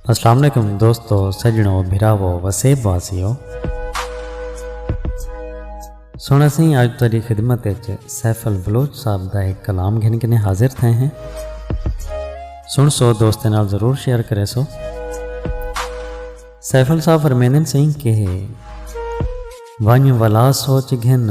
السلام علیکم دوستو سجنو بھراو وسیب واسیو سونا سی آج تاری خدمت سیف البلوچ صاحب دا ایک کلام گھن کے حاضر تھے ہیں سن سو دوست نال ضرور شیئر کرے سو سیف الصاحب فرمیندن سی کہ ونج ولا سوچ گھن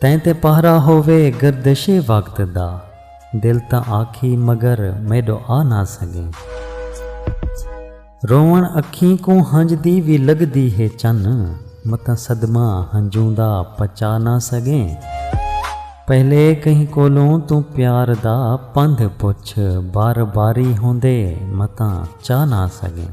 تیں تے پہرا ہووے گردش وقت دا۔ دل تاں آکھی مگر میݙو آ نہ سڳیں۔ رووݨ اکھیں کوں ہنج دی وی لڳدی ہے چن۔ متاں صدمہ ہنجوں دا پچا نہ سڳیں۔ پہلے کہیں کولوں توں پیار دا پندھ پچھ۔ بار باری ہوندے متاں چا نہ سڳیں۔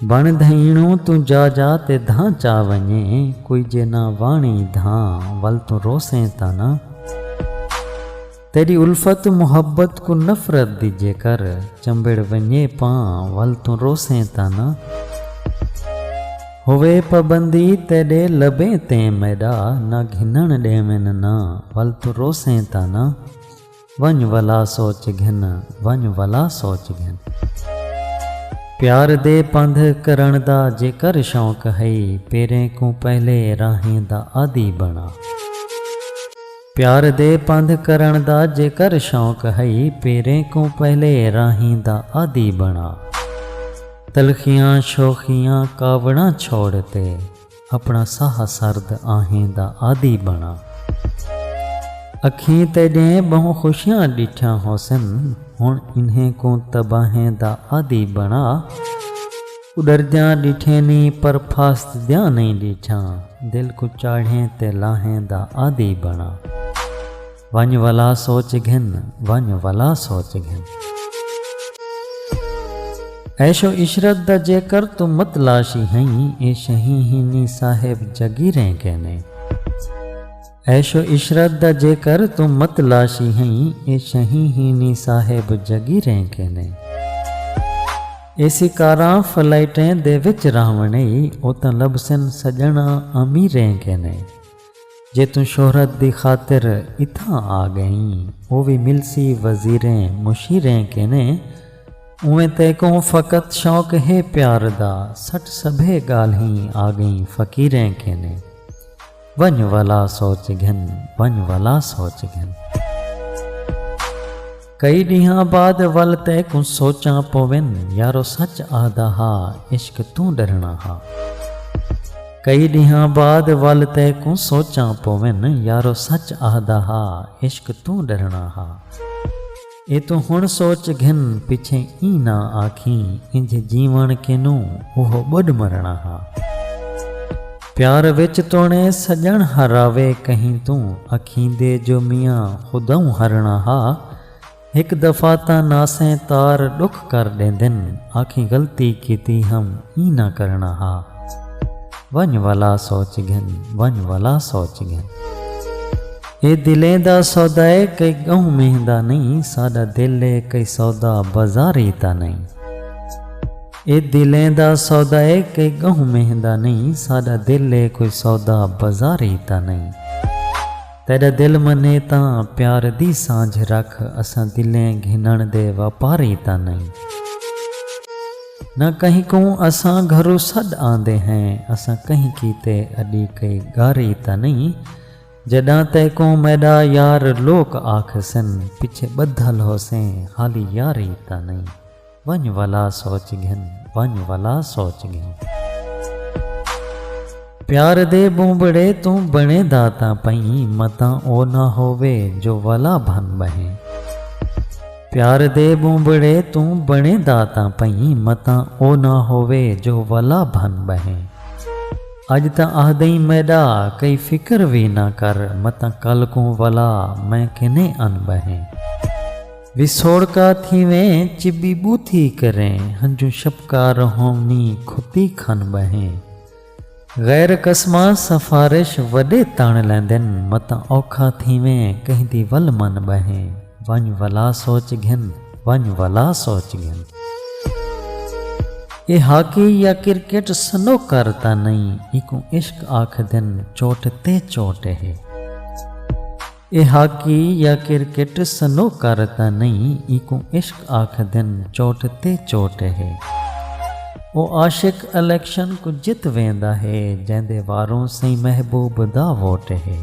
بݨ دھئینوں توں جا جا تے دھاں چا ونڄے کوئی جے نہ واݨی دھاں ول توں روسیں تاں نہ تیݙی الفت محبت کوں نفرت دی جے کر چمبڑ ونڄے پاں ول توں روسیں تاں نہ ہووے پابندی تیݙے لبیں تیں میݙا نہ گھنݨ ݙیون نہ ول توں روسیں تاں نہ۔ ونڄ ولا سوچ گھن، ونڄ ولا سوچ گھن۔ پیار دے پندھ کرݨ دا جیکر شوق ہئی پیریں کوں پہلے راہیں دا عادی بݨا۔ پیار دے پندھ کرݨ دا جیکر شوق ہئی پیریں کوں پہلے راہیں دا عادی بݨا۔ تلخیاں شوخیاں کاوڑاں چھوڑ تے۔ اپݨا ساہ سرد آہیں دا عادی بݨا۔ اکھیں تیݙیں ٻہوں خوشیاں ݙٹھیاں ہوسن ہݨ انہیں کوں تباہیں دا عادی بݨا۔ اݙردیاں ݙٹھیں نی پر پھاسدیاں نئیں ݙٹھیاں دل کوں چاڑھیں تے لاہیں دا عادی بݨا۔ ونڄ ولا سوچ گھن ونڄ ولا سوچ گھن۔ عیش و عشرت دا جیکر توں متلاشی ہئیں اے شہیں ہنی صاحب جاگیریں کینے۔ عیش و عشرت دا جیکر توں متلاشی ہئیں اے شہیں ہنی صاحب جاگیریں کینے۔ اے سی کاراں فلائٹیں دے وچ رہونڑیں او تاں لبھسن سڄݨاں امیریں کینے۔ جے توں شہرت دی خاطر اتھاں آ ڳئیں او وی ملسی وزیریں مشیریں کینے اونویں تیکوں فقط شوق ہے پیار دا سٹ سبھے ڳالھیں آ ڳئیں فقیریں کینے ونڄ ولا سوچ گھن ونڄ ولا سوچ گھن۔ کئی ڈینہاں بعد ول تیکوں سوچاں پوون یارو سچ آہدا ہا عشق توں ڈرنا ہا کئی ڈینہاں بعد ول تیکوں سوچاں پوون یارو سچ آہدا ہا عشق توں ڈرنا ہا اے توں ہن سوچ گھن پچھے ایں نہ آکھیں انج جیون کینوں اوہو بڈھ مرنا ہا۔ پیار وچ توݨے سڄݨ ہراوے کہیں توں اکھیندے جو میاں خوداؤں ہرݨا ہا ہک دفعہ تاں ناسیں تار ݙکھ کر ݙیندن آکھیں غلطی کیتی ہم ایں نہ کرݨا ہا ونڄ ولا سوچ گھن ونڄ ولا سوچ گھن اے دلیں دا سودا اے کئی ڳہوں مہندا نئیں ساݙا دل اے کئی سودا بازاری تاں نئیں اے دلیں دا سودا اے کئی ڳہوں مینہہ دا نئیں ساݙا دل اے کوئی سودا بازاری دا نئیں تیݙا دل منھے تاں پیار دی سانجھ رکھ اساں دلیں گھنݨ دے واپاری دا نئیں نہ کہیں کوں اساں گھروں سݙ آندے ہیں اساں کہیں کیتے اݙی کئی ڳاری دا نئیں جݙاں تیکوں میݙا یار لوک آکھسن پچھے ٻدھل ہوسیں خالی یاری دا نئیں۔ ونڄ ولا سوچ گھن ونڄ ولا سوچ گھن۔ پیار دے بونبڑے توں بݨے دا تاں پئیں متاں او نہ ہووے جو ولا بھن ٻہے۔ پیار دے بونبڑے توں بݨے دا تاں پئیں متاں او نہ ہووے جو ولا بھن ٻہے۔ اڄ تاں آہدئیں میݙا کئی فکر وی نہ کر متاں کل کوں ولا میں کنیں ان ٻہے۔ وسوڑکا تھیویں چبی بوتھی کریں ہنجوں شپکا رہوں نی کھتی کھن ٻہیں غیر قسماں سفارش وݙے تݨ لیندن متاں اوکھا تھیویں کہیں دی ول من ٻہیں ونڄ ولا سوچ گھن ونڄ ولا سوچ گھن۔ اے ہاکی یا کرکٹ سنوکر تاں نئیں ایکوں عشق آکھدن چوٹ تے چوٹ ہے۔ اے ہاکی یا کرکٹ سنوکر تاں نئیں اینکوں عشق آکھدن چوٹ تے چوٹ ہے او عاشق الیکشن کوں جت ویندا ہے جیندے واروں سئیں محبوب دا ووٹ ہے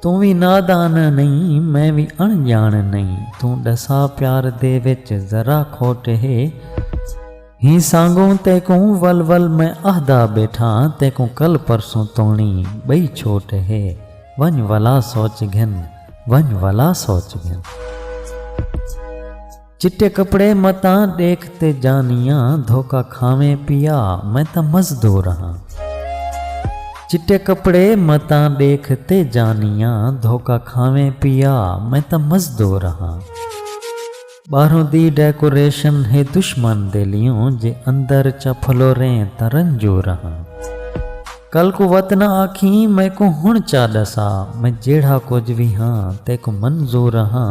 توں وی نادان نئیں میں وی اݨ ڄاݨ نئیں توں ݙسا پیار دے وچ ذرا کھوٹ ہے۔ ہیں سانگوں تیکوں ول ول میں اہدا بیٹھاں تیکوں کل پرسوں توݨی ٻئی چھوٹ ہے ونڄ ولا سوچ گھن ونڄ ولا سوچ گھن چٹے کپڑے متاں ݙیکھ تے جانیاں دھوکا کھاویں پیا میں تاں مزدور ہاں چٹے کپڑے متاں ݙیکھ تے جانیاں دھوکا کھاویں پیا میں تاں مزدور ہاں۔ ٻاہروں دی ڈیکوریشن ہے دشمن دے لیوں جے اندر چا پھلوریں تاں رنجو رہاں کل کوں وت نہ آکھیں میکوں ہن چا ڈسا میں جیڑھا کجھ وی ہاں تیکوں منظور رہاں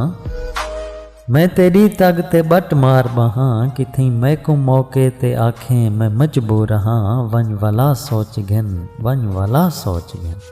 میں تیڈی تگ تے بٹ مار ٻہاں کتھیں میکوں موقع تے آکھیں میں مجبور رہاں ونج ولا سوچ گھن ونج ولا سوچ گھن۔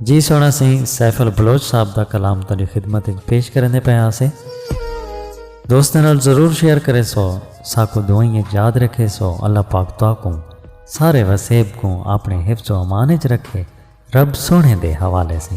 جی سونا سی سیف البلوچ صاحب دا کلام تاری خدمت اچ پیش کرنے پہ آسے دوستاں نال ضرور شیئر کرے سو ساکو دعائیں اچ یاد رکھے سو اللہ پاک تو کو سارے وسیب کو اپنے حفظ و امان اچ رکھے رب سونے دے حوالے سے